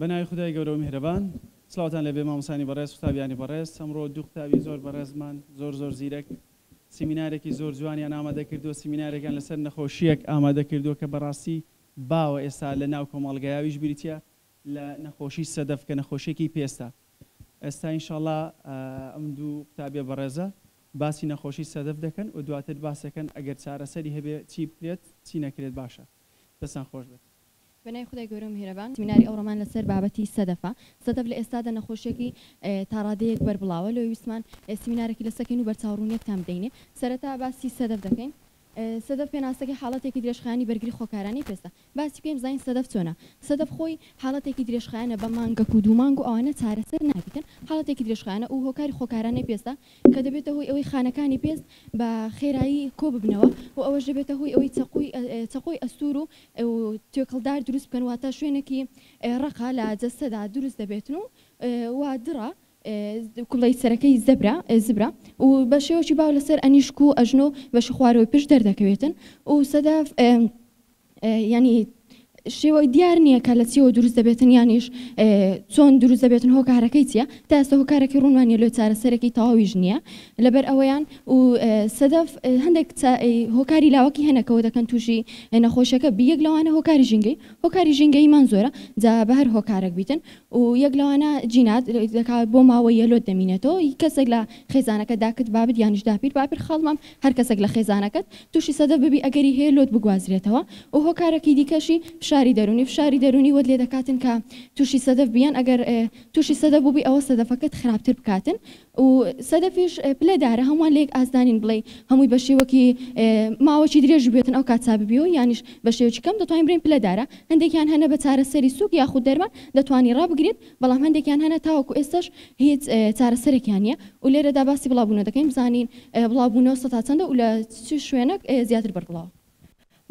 بە ناوی خدای گەورە و میهرەبان سلاوتان لەبێ مامۆسانی بەڕێز قوتابیانی بەڕێز ئەمڕۆ دوو قوتابی زۆر بەڕێزمان زۆر زۆر زیرەک سیمینارێکی زۆر جوانیان ئامادە کردووە سیمینارێکیان لەسەر نەخۆشیەک ئامادە کردووە کە بەڕاستی باوە ئێستا لە ناو کۆمەڵگایویش بریتە لە نەخۆشی سەدەف کە نەخۆشیەکی پێستە ئێستا انشاللە ئەم دوو قوتابیە بەڕێزە باسی نەخۆشی سەدەف دەکەن و دواتر باس دەکەن ئەگەر چارەسەری هەبێ چی بکرێت چی نەکرێت باشە دەستان خۆش بێت. بە ناوی خودای گەورە و میهرەبان سمیناری ئەوڕۆمان لە سەر بابەتی سەدەفە سەدەف لە ئێستادا نەخۆشیەکی تا ڕادەیەک بەربڵاوە لۆیە ویستمان سمینارەکی لەسەکەین و بەرچاو ڕوونیەکتان بدەینێ سەرەتا باسی سەدەف دەکەین سەدەف پێناسەکەی حاڵەتێکی درێژخایەنی بەرگری خۆکارانەی پێستە. باسی بکەین بزانین سەدەف چۆنە. سەدەف خۆی حاڵەتێکی درێژخایەنە بە مانگەک و دوو مانگ و ئەوانە چارەسەر نابیتن، حاڵەتێکی درێژخایەنە و هۆکاری خۆکارانەی پێستە کە دەبێتە هۆی ئەوەی خانەکانی پێست بە خێرایی کۆ ببنەوە و ئەوەش دەبێتە هۆی ئەوەی چەقۆی چەقۆی ئەستوور و توێکڵدار دروست بکەن واتە شوێنێکی ڕەقە لە جەستەدا دروست دەبێتن و دڕە کوڵەی سەرەکەی زەبرە، زبرە، و بە شێوەکی باو لەسەر ئەنیشک و ئەژنۆ و بەشی خوارەوەی پشت دەردەکەوێتن و سەداف، یانی شێوە دیار نییە کە لە چیەوە دروست دەبێتن یانیش چۆن دروست دەبێتن هۆکارەکەی چیە تا ئێستا هۆکارەکەی ڕوونمان نیە لۆ چارەسەرێکی تەواویش نییە لەبەر ئەوەیان و سەدەف هەندێک هۆکاری لاوەکی هەنە کەەوە دەکەن تووشی نەخۆشەکە بی یەک لەوانە هۆکاری ژینگەی هۆکاری ژینگەیمان زۆرە جا بە هەر هۆکارەک بیتن و یەک لەوانە جینات دەکا بۆ ماوەیە لۆت دەمینێتەوە ی کەسێک لە خێزانەکەت داکت بابت یانیش داپیر باپیر خاڵمام هەر کەسێک لە خێزانەکەت توشی سەدەف ببی ئەگەری هەیە لۆت بگوازرێتەوە و هۆکارەکی دیکەشی فشاری دەرونی فشاری دەرونی وەت لێدەکاتن کە توشی سەدەف بیەن ئەگەر توشی سەدەف بوبی ئەوە سەدەفەکەت خراپتر بکاتن و سەدەفیش پلە دارە هەموان لەیەک ئاست دانین بڵێی هەموی بەشێوەکی ماوەکی درێژ بوێتن ئەو کات چا ببیەوە یانیش بەشێوەکی کەم دەتوانین بڵێین پلە دارە هەندێکیان هەنە بە چارەسەری سوک یاخود دەرمان دەتوانی ڕابگریت بەڵام هەندێکیان هەنە تاوەکو ئێستەش هیچ چارەسەرێکیان نیە و لێرەدا باسی بڵاو بونە دەکەین بزانین بڵاو بونەوە سەتا چەندە و لە چ شوێنەک زیاتر بەربڵاوە.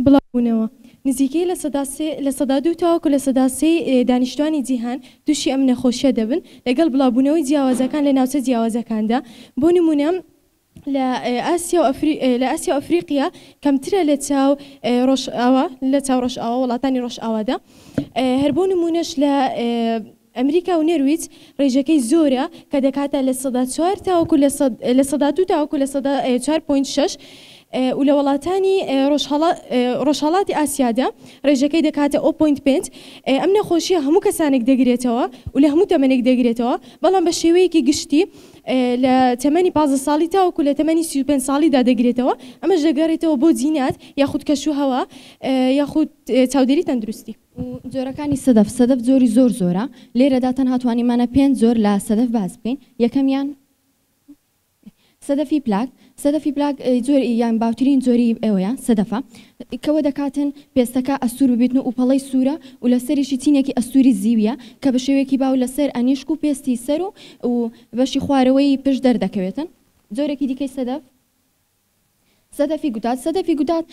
بڵاوبوونەوە. نزیکەی لە سەدا سێ لە سەدا دوو تاوەکو لە سەدا سێ ی دانیشتووانی جیهان تووشی ئەم نەخۆشییە دەبن، لەگەڵ بڵاوبوونەوەی جیاوازەکان لە ناوچە جیاوازەکاندا، بۆ نموونە لە ئاسیا و لە ئاسیا و ئەفریقیا کەمترە لە چاو ڕۆژئاوا لە چاو ڕۆژئاوا وڵاتانی ڕۆژئاوادا هەر بۆ نموونەش لە ئەمریکا و نەرویج ڕێژەکەی زۆرە کە دەکاتە لە سەدا چوار تاوەکو لە سەد لە سەدا دوو تاوەکو لە سەدا چوار پۆینت شەش و لە وەڵاتانی ڕۆژهەڵا ڕۆژهەڵاتی ئاسیادا ڕێژەکەی دەکاتە ئۆ پۆینت پێنج ئەم نەخۆشیە هەموو کەسانێک دەگرێتەوە و لە هەموو تەمەنێک دەگرێتەوە بەڵام بە شێوەیەکی گشتی لە تەمەنی پازدە ساڵی تاوەکو لە تەمەنی سی و پێنج ساڵیدا دەگرێتەوە ئەمەش دەگەڕێتەوە بۆ جینات یاخود کەشوهەوا یاخود چاودێری تەندروستی. و جۆرەکانی سەدەف، سەدەف جۆری زۆر زۆرە، لێرەدا تەنها توانیمانە پێنج جۆر لە سەدەف باس بکەین، یەکەمیان، سەدەفی پلاک، سەدەفی پلاک جۆر یان باوترین جۆری ئەوەیە سەدەفە کەوە دەکاتن پێستەکە ئەستور ببیتن و ئوپەڵەی سورە و لەسەریشی چینێکی ئەستوری زیویە کە بە شێوەیەکی باو لەسەر ئەنیشک و پێستی سەر و و بەشی خوارەوەی پشت دەردەکەوێتن جۆرێکی دیکەی سەدەف سەدەفی گوتات سەدەفی گوتات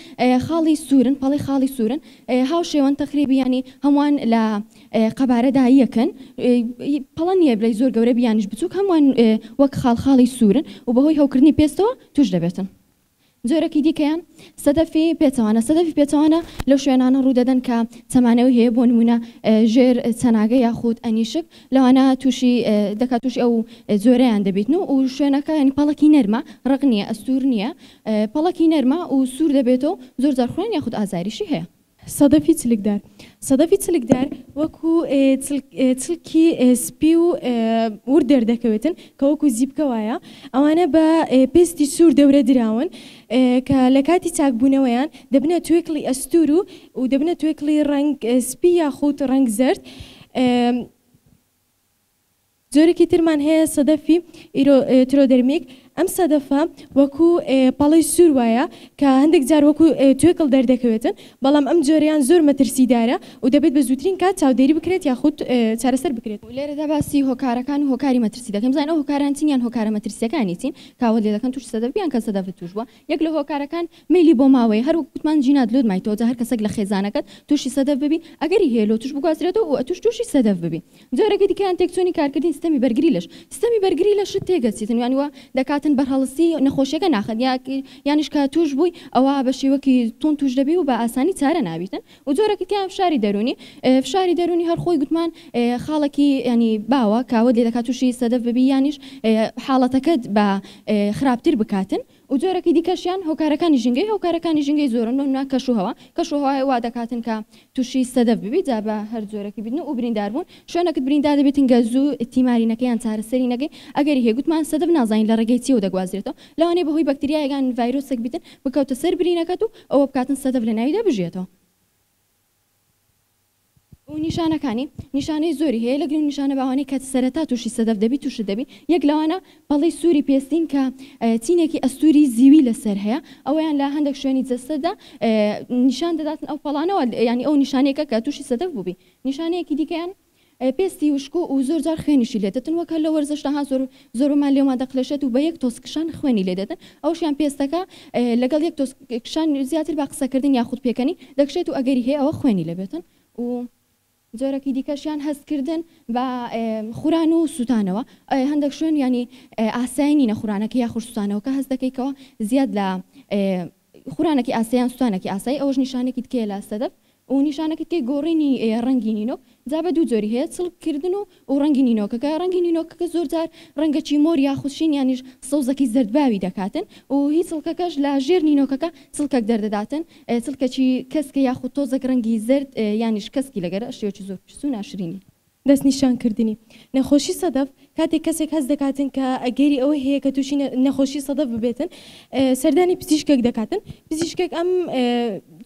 خاڵی سوورن پەڵەی خاڵی سوورن هاوشێوەن تەقریبی یانی هەمووان لە قەبارەدا یەکن پەڵە نییە بلەی زۆر گەورە بیانیش بچووک هەمووان وەک خاڵ خاڵی سوورن و بەهۆی هەوکردنی پێستەوە توش دەبێتن جۆرەکی دیکەیان سەدەفی پێچەوانە سەدەفی پێچەوانە لەو شوێنانە ڕوودەدەن کە چەمانەوەی هەیە بۆ نمونە ژێر چەناگە یاخود ئەنیشک لەوانە توشی دەکات توشی ئەو جۆرەیان دەبیتن و و شوێنەکە ینی پەڵکی نەرمە ڕق نییە ئەستور نییە پەڵکی نەرمە و سوور دەبێتەوە زۆر زارخوێن یاخود ئازاریشی هەیە. سەدەفی چلکدار، سەدەفی چلکدار وەکو چلکی سپی و ورد دەردەکەوێتن کە وەکو زیپکە وایە ئەوانە بە پێستی سوور دەورە دراون کە لە کاتی چاکبوونەوەیان دەبنە توێکڵی ئەستور و و دەبنە توێکڵی ڕەنگ سپی یاخود ڕەنگ زەرد جۆرێکی ترمان هەیە سەدەفی ئیرۆ ترۆدەرمیک ئەم سەدەفە وەکو پەڵەی سوور وایە کە هەندێک جار وەکو توێکڵ دەردەکەوێتن بەڵام ئەم جۆریان زۆر مەترسیدارە و دەبێت بە زووترین کات چاودێری بکرێت یاخود چارەسەر بکرێت. لێرەدا باسی هۆکارەکان و هۆکاری مەترسی دەکەین بزانین ئەو هۆکاران چین یان هۆکارە مەترسیەکانی چین کە ئەوەت لێ دەکەن تووشی سەدەف بی یان کە سەدەفت تووش بووە یەک لە هۆکارەکان مەیلی بۆ ماوەیە هەر وەک گوتمان جینات لۆت مایتەوە جا هەر کەسەک لە خێزانەکەت توشی سەدەف ببی ئەگەری هەیە لۆتش بگوازرێتەوە و ئەتوش توشی سەدەف ببی جۆرەکەی دیکەیان تێکچونی کارکردنی سیستەمی بەرگری لەش سیستەمی بەرگری لەشت تێگەچیتن یانی وا دەکاتن بەرهەڵستی نەخۆشیەکە ناخەن یانیش کە توش بوی ئەوا بە شیوەکی توند توش دەبی و بە ئاسانی چارە نابیتن و جۆرەکی تیان فشاری دەرونی فشاری دەرونی هەر خۆی گوتمان خاڵەکی یانی باوە کە ئەوەت لێ دەکات توشی سەدەف ببی یانیش حاڵەتەکەت بە خراپتر بکاتن و جۆرەکی دیکەشیان هۆکارەکانی ژینگەی هۆکارەکانی ژینگەی زۆرن بەمنا کەش و هەوا کەش و هەوای وا دەکاتن کە توشی سەدەف ببی جا بە هەر جۆرەکی بیت و بریندار بون شوێنەکت بریندار دەبێتن گە زوو تیماری نەکەی یان چارەسەری نەگەی ئەگەری هەیە گوتمان سەدەف نازانین لە ڕێگەی چیەوە دەگوازرێتەوە لەوانەیە بەهۆی بەکتریایەک یان ڤایرۆسەک بیتن بکەوتە سەر برینەکەت و ئەوە بکاتن سەدەف لە ناویدا بژیێتەوە. و نیشانەکانی نیشانەی زۆری هەیە لەگەڵ ئەو نیشانە باوانەی کە سەرەتا تووشی سەدەف دەبی تووشت دەبی یەک لەوانە پەڵەی سووری پێستین کە چینێکی ئەستووری زیوی لەسەر هەیە ئەوەیان لە هەندێک شوێنی جەستەدا نیشان دەداتن ئەو پەڵانەوە یانی ئەو نیشانەیەکە کە تووشی سەدەف بووبی نیشانەیەکی دیکەیان پێستی وشک و زۆر جار خوێنیشی لێ دەتن وەک هەر لە وەرزشدا ها زۆر زۆربەمان لێومان دەقلێشێت و بە یەک تۆز کشان خوێنی لێ دەتن ئەوشیان پێستەکە لەگەڵ یەک تۆز کشان زیاتر بە قسەکردن یاخود پێکەنین دەکشێت و ئەگەری هەیە ئەوە خوێنی لێ بێتن و جۆرەکی دیکەشیان هەست کردن بە خوران و سوتانەوە هەندەک شوێن یانی ئاسای نینە خورانەکە یاخود سوتانەوەکە هەست دەکەی کەوە زیاد لە خورانەکی ئاسە یان سوتانەکی ئاسایی ئەوەش نیشانەکی دیکەیە لە سەدەف و نیشانەکی دیکەی گۆڕینی ڕەنگی نینۆک جا بە دوو جۆری هەیە چڵک کردن و و ڕەنگی نینۆکەکە ڕەنگی نینۆکەکە زۆر جار ڕەنگەکی مۆر یاخود شین یانیش سەوزەکی زەرد باوی دەکاتن و هی چڵکەکەش لە ژێر نینۆکەکە چڵکەک دەردەداتن چڵکەکی کەسکە یاخود تۆزەک ڕەنگی زەرد یانیش کەسکی لەگەرە شێوەکی زۆر پیس و ناشرینی دەستنیشانکردنی نەخۆشی سەدەف، کاتێک کەسێک هەست دەکاتن کە ئەگەری ئەوەی هەیە کە تووشی نەخۆشی سەدەف ببێتن سەردانی پزیشکێک دەکاتن، پزیشکێک ئەم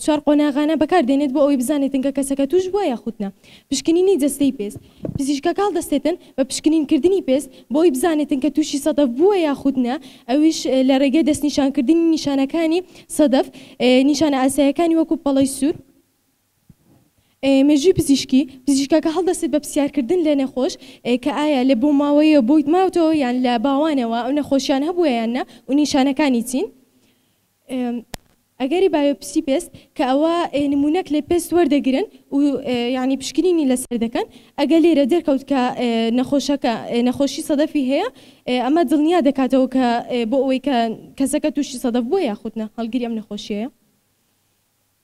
چوار قۆناغانە بەکاردێنێت بۆ ئەوەی بزانێتن کە کەسەکە تووش بووە یاخود نا. پشکنینی جەستەی پێست، پزیشکە کاڵ دەستێتن بە پشکنینکردنی پێست بۆ ئەوەی بزانێتن کە تووشی سەدەف بووە یاخود نا، ئەویش لە ڕێگەی دەستنیشانکردنی نیشانەکانی سەدەف، نیشانە ئاساییەکانی وەکوو پەڵەی سوور، مێژووی پزیشکی، پزیشکەکە هەڵدەستێت بە پرسیارکردن لە نەخۆش کە ئایا لە بۆماوەییەوە بۆیت ماوتەوە یان لە باوانەوە ئەو نەخۆشیان هەبووە یان نا و نیشانەکانی چین؟ ئەگەری بایۆپسی پێست، کە ئەوە نموونەک لە پێست وەردەگرن و یانی پشکنینی لەسەر دەکەن، ئەگەر لێرە دەرکەوت کە نەخۆشەکە نەخۆشی سەدەفی هەیە ئەمە دڵنیا دەکاتەوە کە بۆ ئەوەی کە کەسەکە تووشی سەدەف بووە یاخود نا هەڵگری ئەم نەخۆشیەیە.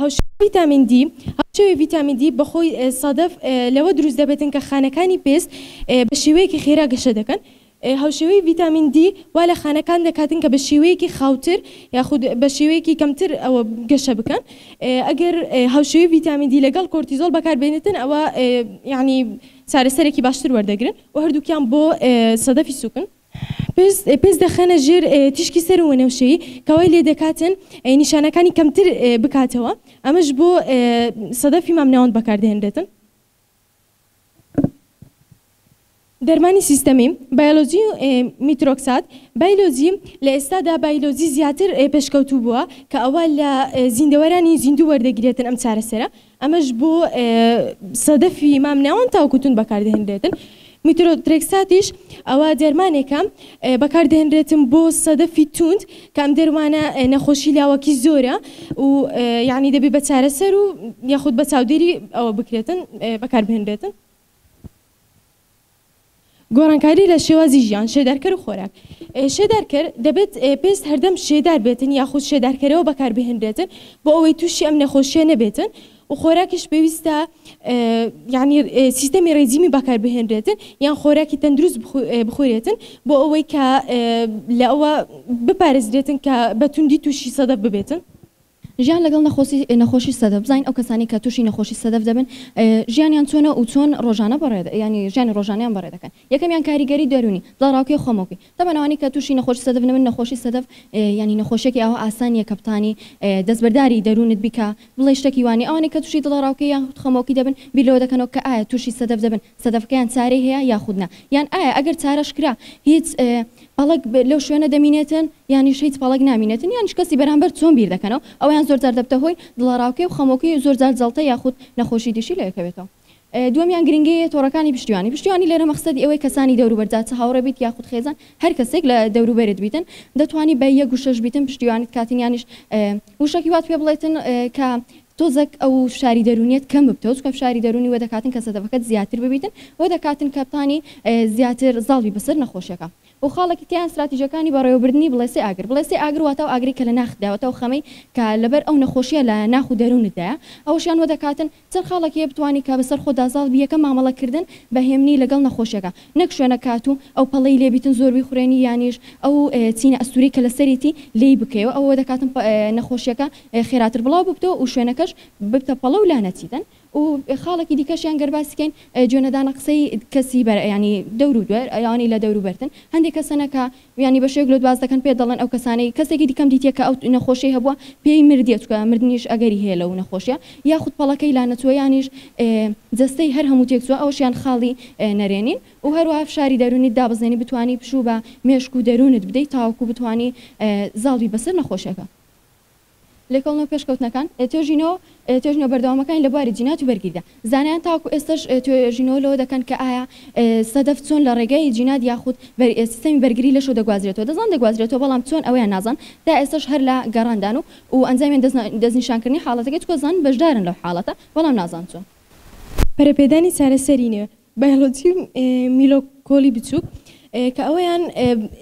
هاوشێوەی ڤیتامین دی، هاوشێوەی ڤیتامین دی بە خۆی سادەف لەوە دروست دەبێتن کە خانەکانی پێست بە شێوەیەکی خێرا گەشە دەکەن. هاوشێوەی ڤیتامین دی وا لە خانەکان دەکاتن کە بە شێوەیەکی خاوتر یاخود بە شێوەیەکی کەمتر ئەوە گەشە بکەن. ئەگەر هاوشێوەی ڤیتامین دی لەگەڵ کۆرتیزۆڵ بەکار بێنێتن ئەوە یانی چارەسەرێکی باشتر وەردەگرن و هەردووکیان بۆ سەدەفی سووکن. پێست دەخەنە ژێر تیشکی سەر و وەنەوشەیی کە وای لێدەکاتن نیشانەکانی کەمتر بکاتەوە ئەمەش بۆ سەدەفی مامناوەند بەکاردەهێنرێتن. دەرمانی سیستەمی، بایۆلۆجی میترۆکسات بایلۆجی، لە ئێستادا بایلۆجی زیاتر پێشکەوتوو بووە کە ئەوە لە زیندەوەرانی زیندوو وەردەگیرێتن ئەم چارەسەرە ئەمەش بۆ سەدەفی مام ناوەند تاوەکو توند بەکاردەهێنرێتن. میترۆترێکساتیش ئەوە دەرمانێکە بەکاردەهێنرێتن بۆ سەدەفی توند کە ئەم دەروانە نەخۆشی لاوەکی زۆرە و یعنی دەبێت بە چارەسەر و یاخود بە چاودێری ئەوە بکرێتن بەکاربهێنرێتن. گۆڕانکاری لە شێوازی ژیان، شێدارکەر و خۆراک. شێدارکەر، دەبێت پێست هەردەم شێدار بێتن یاخود شێدارکەرەوە بەکاربهێنرێتن بۆ ئەوەی تووشی ئەم نەخۆشییە نەبێتن و خۆراکیش پێویستە یانی سیستەمی ڕێجیمی بەکاربهێنرێتن یان خۆراکی تەندروست بخورێتن بۆ ئەوەی کە لە ئەوە بپارێزرێتن کە بە توندی تووشی سەدە ببێتن. ژیان لەگەڵ نەخۆسی نەخۆشی سەدە بزانین ئەو کەسانەی کە توشی نەخۆشی سەدەف دەبن ژیانیان چۆنە و چۆن ڕۆژانە بەڕێ یانی ژیانی ڕۆژانەیان بەڕێ دەکەن یەکەمیان کاریگەری دەرونی دڵەڕاوکێ خۆمۆکی تەبەن ئەوانەی کە توشی نەخۆشی سەدەف دەبن نەخۆشی سەدەف یانی نەخۆشیەکی ئاوا ئاسان نیە کە بتانی دەستبەرداری دەرونت بیکا بڵێی شتەکی وانیە ئەوانەی کە توشی دڵەڕاوکێ یاخود خەمۆکی دەبن بیر لەوە دەکەنەوە کە ئایا توشی سەدەف دەبن سەدەفەکەیان چارەی هەیە یاخود نا؟ یان ئایا ئەگەر چارەش کرا هیچ پەڵەک لەو شوێنە دەمینێتن یانیش هیچ پەڵەک نامینێتن یانیش کەسی بەرامبەر چۆن بیر دەکەنەوە؟ ئەوەیان زۆر جار دەبتە هۆی دڵەڕاوکێ و خەمۆکی و زۆر جار جەڵتە یاخود نەخۆشی دیشی لە یەکەوێتەوە. دووەمیان گرنگیی تۆڕەکانی پشتیوانی. پشتیوانی لێرە مەخسەدی ئەوەی کەسانی دەوروبەر جا چ هاوڕێ بیت یاخود خێزان هەر کەسێک لە دەوروبەرت بیتن دەتوانی بە یەک وشەش بیتن پشتیوانت کاتن یانیش وشەکی وات پێ بڵێتن کە تۆزەک ئەو فشاری دەروونیەت کەم ببتەوە چونکە فشاری دەروونی وە دەکاتن کە سەدەفەکەت زیاتر ببیتن وە دەکاتن کە بتانی زیاتر زاڵ بی بەسەر نەخۆشیەکە وە خاڵەکی تێیان ستراتیژەکانی بەڕێوەبردنی بڵێسەی ئاگر بڵێسەی ئاگر واتە ئەو ئاگرەی کە لە ناخت دایە واتە ئەو خەمەی کە لەبەر ئەو نەخۆشیە لە ناخ و دەروونت دایە ئەوەشیان وە دەکاتن چەند خاڵەک هەیە بتوانی کە بەسەر خۆتدا زاڵ بی یەکەم مامەڵە کردن بە هێمنی لەگەڵ نەخۆشیەکە نەک شوێنە کات و ئەو پەڵەی لێ بیتن زۆر بیخورێنی یانیش ئەو چینە ئەستورەی کە لەسەریتی لێی بکەیەوە ئەوە وە دەکاتن نەخۆشیەکە خێراتر بڵاو ببتەوە و شوێنەکەش ببتە پەڵە و لانەچیتن و خاڵەکی دیکەشیان گەر باسی کەین جوێ نەدانە قسەی کەسی بەر یانی دەور و دوێر ئەوانەی لە دەور و بەرتن هەندێ کەسەنە کە یانی بە شێوەیەک لۆت باس دەکەن پێت دەڵێن ئەو کەسانەی کەسێکی دیکەم دیتیە کە ئەو نەخۆشیەی هەبووە پێی مردیە چونکە مردنیش ئەگەری هەیە لەو نەخۆشیە یاخود پەڵەکەی لانەچووە یانیش جەستەی هەر هەموو تێک چووە ئەوەشیان خاڵی نەرێنین و هەروەها فشاری دەروونیت دابەزێنی بتوانی پشوو بە مێشک و دەروونت بدەی تاوەکو بتوانی زاڵ بی بەسەر نەخۆشیەکە. لێکۆڵنەوە پێشکەوتنەکان، توێژینەوە توێژینەوە بەردەوامەکانی لە بواری جینات و بەرگریدا، زانایان تاوەکو ئێستەش توێژینەوە لەوە دەکەن کە ئایا سەدەف چۆن لە ڕێگای جینات یاخود سیستەمی بەرگری لەشەوە دەگوازرێتەوە، دەزانن دەگوازرێتەوە بەڵام چۆن ئەوەیان نازانن، تا ئێستەش هەر لە گەڕاندان و و ئەنجامی دەستنیشانکردنی حاڵەتەکەی، چونکە دەزانن بەشدارن لەو حاڵەتە بەڵام نازانن چۆن. پەرەپێدانی چارەسەری نوێ، بایۆلۆجی و میلۆکۆلی بچووک کە ئەوەیان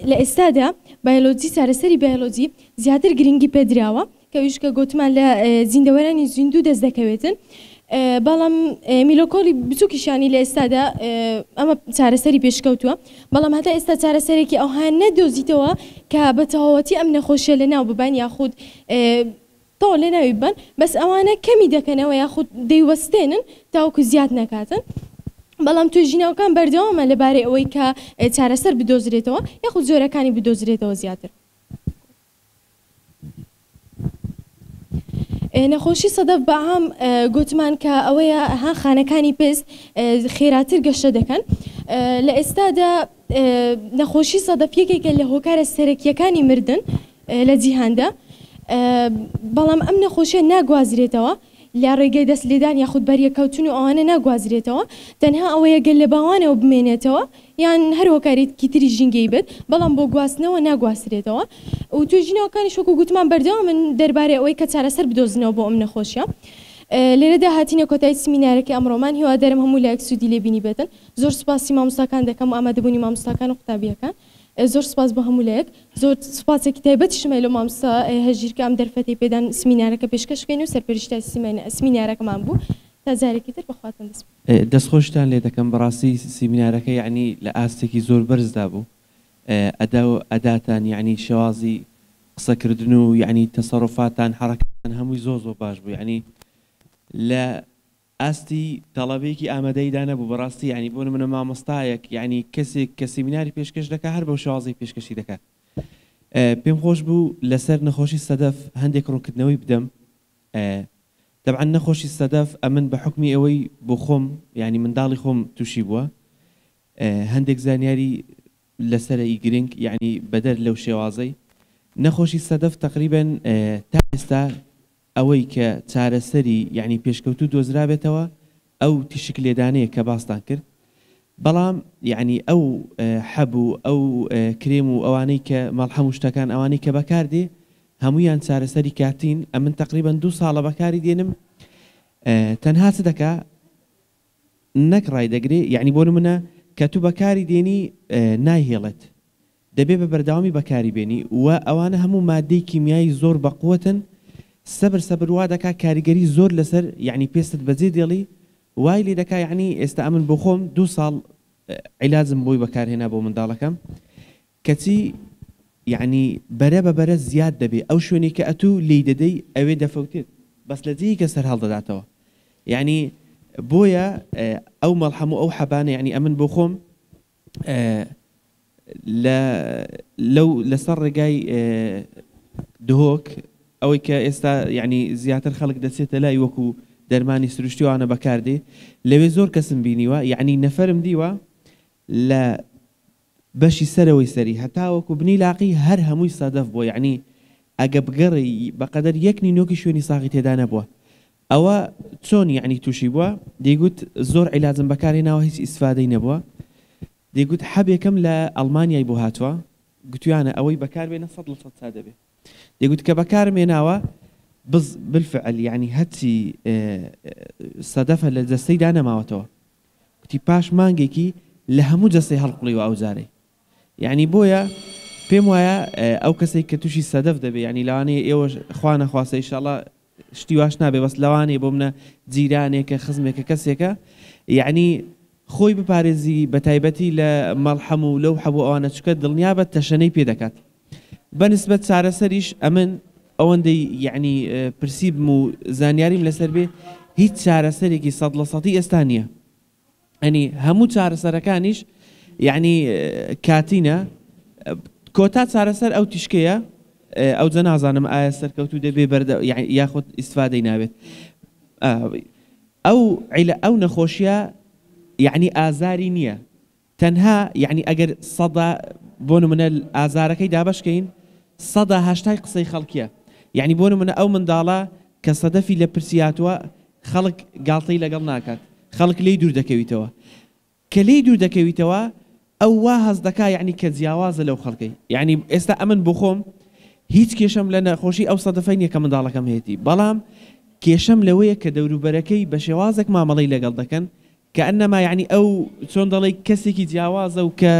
لە ئێستادا بایۆلۆجی چارەسەری بایۆلۆجی زیاتر گرنگی پێدراوە کە ویش کە گوتمان لە زیندەوەرانی زیندوو دەست دەکەوێتن بەڵام میلۆکۆلی بچووکیشانی لە ئێستادا ئەمە چارەسەری پێشکەوتووە بەڵام هەتا ئێستا چارەسەرێکی ئەوها نەدۆزیتەوە کە بە تەواوەتی ئەم نەخۆشیە لە ناو ببان یاخود تەواو لەناوی ببەن بەس ئەوانە کەمی دەکەنەوە یاخود دەیوەستێنن تاوەکو زیاد نەکاتن بەڵام توێژینەوەکان بەردەوامە لەبارەی ئەوەی کە چارەسەر بدۆزرێتەوە یاخود جۆرەکانی بدۆزرێتەوە زیاتر. نەخۆشی سەدەف بەعام گۆتمان کە ئەوەیە ها خانەکانی پێست خێراتر گەشە دەکەن لە ئێستادا نەخۆشی سەدەف یەکێکە لە هۆکارە سەرەکیەکانی مردن لە جیهاندا، بەڵام ئەم نەخۆشیە ناگوازرێتەوە لە ڕێگەی دەست لێدان یاخود بەریەککەوتن و ئەوانە ناگوازرێتەوە تەنها ئەوەیە گەر لە باوانەوە بمێنێتەوە یان هەر هۆکارێکی تری ژینگەیی بێت بەڵام بۆ گواستنەوە ناگواسرێتەوە و توێژینەوەکانیش وەکو گوتمان بەردەوامن دەربارەی ئەوەی کە چارەسەر بدۆزنەوە بۆ ئەم نەخۆشیە لێرەدا هاتینە کۆتایی سمینارەکەی ئەمڕۆمان هیوادارم هەموو لایەک سوودی لێ بینیبێتن زۆر سوپاسی مامۆستاکان دەکەم و ئامادەبوونی مامۆستاکان و قوتابیەکان. زۆر سوپاس بۆ هەموو لایەک. زۆر سوپاسێکی تایبەتیشم هەیە لۆ مامۆستا هەژیر کە ئەم دەرفەتەی پێدان سمینارەکە پێشکەش بکەین و سەرپەرشتای سمینارەکەمان بوو. تا جارێکی تر بە خواتان دەسپێرم. دەستخۆشیتان لێ دەکەم بەڕاستی سیمینارەکە یەعنی لە ئاستێکی زۆر بەرزدا بوو ئەدا و ئەداتان یەعنی شێوازی قسەکردن و یەعنی تەسەروفاتان حەڕەکەتان هەمووی زۆر زۆر باش بوو یەعنی لە ئاستی تەڵەبەیەکی ئامادەیدا نەبوو بەڕاستی یانی بۆ نمونە مامۆستایەک یانی کەسێک کە سیمیناری پێشکەش دەکا هەر بەو شێوازەی پێشکەشی دەکات پێم خۆش بوو لەسەر نەخۆشی سەدەف هەندێک ڕوونکردنەوەی بدەم تەبعەن نەخۆشی سەدەف ئەمن بە حوکمی ئەوەی بۆ خۆم یانی منداڵی خۆم تووشی بووە هەندێک زانیاری لەسەر ئی گرنگ یعنی بەدەر لەو شێوازەی نەخۆشی سەدەف تقریبا تا ئێستا ئەوەی کە چارەسەری یەعنی پێشکەوتوو دۆزرابێتەوە ئەو تیشک لێدانەیە کە باستان کرد بەڵام یەعنی ئەو حەب و ئەو کرێم و ئەوانەی کە مەڵحەم و شتەکان ئەوانەی کە بەکار دێ هەموویان چارەسەری کاتین ئەمن تەقریبەن دوو ساڵە بەکاری دێنم تەنها چ دەکا نەک ڕای دەگرێ یەعنی بۆ نمونە کە تو بەکاری دێنی نایهێڵێت دەبێ بە بەردەوامی بەکاری بێنی و ئەوانە هەموو ماددەی کیمیایی زۆر بەقوەتن سەبر سەبر وا دەکا کاریگەری زۆر لەسەر یەعنی پێستت بەجێ دێڵی وای لێ دەکا یەعنی ئێستا ئەمن بۆ خۆم دوو ساڵ عیلاجم بۆی بەکار هێنا بۆ منداڵەکەم کەچی یەعنی بەرە بە بەرە زیاد دەبێ ئەو شوێنی کە ئەتوو لێی دەدەی ئەوێ دەفەوتێت بەس لە جێیکە سەر هەڵدەداتەوە یەعنی بۆیە ئەو مەڵحەم و ئەو حەبانە یەعنی ئەمن بۆ خۆم لە لەو لەسەر ڕێگای دهۆک ئەوەی کە ئێستا یعنی زیاتر خەڵک دەچێتە لای وەکو دەرمانی سروشتیوانە بەکاردێ لەوێ زۆر کەسم بینیوە یعنی نەفرم دیوە لە بەشی سەرەوەی سەری هەتاوەکو بنی لاقی هەر هەمووی سەدەف بۆ یعنی ئەگە بگەڕی بەقەدەر یەک نینۆکی شوێنی ساغی تێدا نەبووە ئەوە چۆن یەعنی توشی بوە دەیگوت زۆر عیلاجم بەکار هێناوە هیچ ئیسفادەی نەبوە دەیگوت حەبێکم لە ئەڵمانیای بۆ هاتوە گوتویانە ئەوەی بەکار بێنە سەد لە سەد چا دەبێ دەیگوت کە بەکارم هێناوە بز بالفعل یەعنی هەرچی سەدەفە لە جەستەیدا نەماوەتەوە گوتی پاش مانگێکی لە هەموو جەستەی هەڵقوڵیوە ئەو جارەی یەعنی بۆیە پێم وایە ئەو کەسەی کە توشی سەدەف دەبێ یەعنی لەوانەیە ئێوەش خوا نەخواستە ان شاء اللە شتی واش نابێ بەس لەوانەیە بۆ منە جیرانێکە خزمێکە کەسێکە یەعنی خۆی بپارێزی بە تایبەتی لە مەڵحەم و لەو حەبوو ئەوانە چکە دڵنیابە تەشەنەی پێ دەکات بەنسبەت چارەسەریش ئەمن ئەوەندەی یەعنی پرسیبم و زانیاریم لەسەر بێ هیچ چارەسەرێکی سەد لە سەدی ئێستا نییە یەعنی هەموو چارەسەرەکانیش یەعنی کاتینە کۆتا چارەسەر ئەو تیشکەیە ئەوجە نازانم ئایا سەرکەوتو دەبێ بەردە یاخود ئیسفادەی ناوێت ئەو عیلە ئەو نەخۆشیە یعنی ئازاری نییە تەنها یەعنی ئەگەر سەدا بۆ نمونە ئازارەکەی دابەش کەین سەدا هەشتای قسەی خەڵکیە یەعنی بۆ نمونە ئەو منداڵە کە سەدەفی لە پرسی هاتوە خەڵک گاڵتەی لەگەڵ ناکات خەڵک لێی دوور دەکەویتەوە کە لێی دوور دەکەویتەوە ئەو وا هەست دەکا یەعنی کە جیاوازە لەو خەڵکەی یەعنی ئێستا ئەمن بۆ خۆم هیچ کێشەم لە نەخۆشی ئەو سەدەفەی نیە کە منداڵەکەم هەیەتی بەڵام کێشەم لەوەیە کە دەوروبەرەکەی بە شێوازێک مامەڵەی لەگەڵ دەکەن کانما یەعنی ئەو چۆن دەڵێی کەسێکی جیاوازە و کە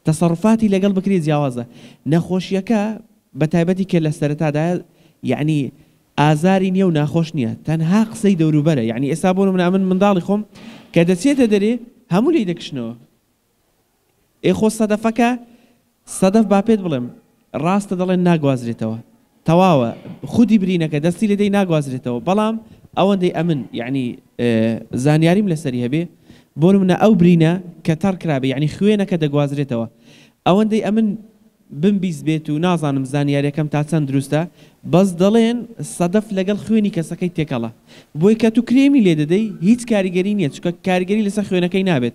تەسەڕوفاتی لەگەڵ بکرێ جیاوازە. نەخۆشیەکە بە تایبەتی کە لە سەرەتادایە یەعنی ئازاری نیە و ناخۆش نیە تەنها قسەی دەوروبەرە یەعنی ئێستا بۆ نمونە ئەمن منداڵی خۆم کە دەچێتە دەرێ هەموو لێی دەکشنەوە ئێ خۆ سەدەفەکە سەدەف با پێت بڵێم ڕاستە دەڵێن ناگوازرێتەوە تەواوە خودی برینەکە دەستی لێ دەی ناگوازرێتەوە بەڵام ئەوەندەی ئەمن یعنی زانیاریم لەسەری هەبێ بۆ نمونە ئەو برینە کە تەڕ کرابێ یعنی خوێنەکە دەگوازرێتەوە ئەوەندەی ئەمن بمبیست بێت و نازانم زانیاریەکەم تا چەند دروستە بەس دەڵێن سەدەف لەگەڵ خوێنی کەسەکەی تێکەڵە بۆی کە تو کرێمی لێ دەدەی هیچ کاریگەری نیە چونکە کاریگەری لەسەر خوێنەکەی نابێت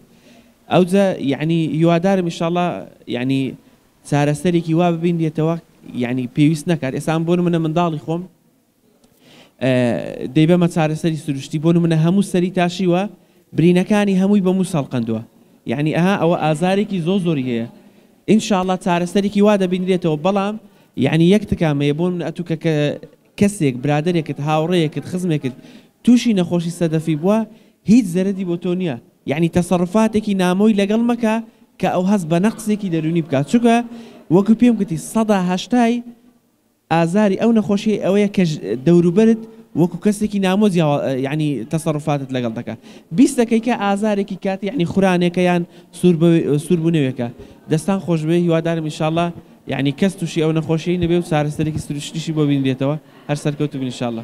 ئەوجە یەعنی هیوادارم ئیشەڵا یەعنی چارەسەرێکی وا ببینرێتەوە یەعنی پێویست نەکات ئێستا من بۆنمونە منداڵی خۆم دەیبەمە چارەسەری سروشتی بۆ نمونە هەموو سەری تاشیوە برینەکانی هەمووی بە موس هەڵقەندوە یعنی ئەها ئەوە ئازارێکی زۆ زۆری هەیە ان شاء اللە چارەسەرێکی وا دەبینرێتەوە بەڵام یعنی یەک تکام هەیە بۆ من ئەتو کە کەسێک برادێکت هاوڕێیەکت خزمێکت تووشی نەخۆشی سەدەفی بووە هیچ زەرەدی بۆ تۆ نییە یعنی تەسەڕفاتێکی نامۆی لەگەڵ مەکە کە ئەو هەست بە نەقسێکی دەرونی بکات چونکە وەکو پێم گوتی سەدا هەشتای ئازاری ئەو نەخۆشیەی ئەوەیە کە دەوروبەرت وەکو کەسێکی نامۆ جیاوا یانی تەسەروفاتت لەگەڵ دەکا بیست دەکەی کە ئازارێکی کاتی یانی خورانێکە یان سور بە سور بونەوێکە دەستان خۆش بێ هیوادارم ان شاءاللە یانی کەس توشی ئەو نەخۆشیەی نەبێ و چارەسەرێکی سروشتیشی بۆ بینرێتەوە هەر سەرکەوتوبن ان شاءاللە.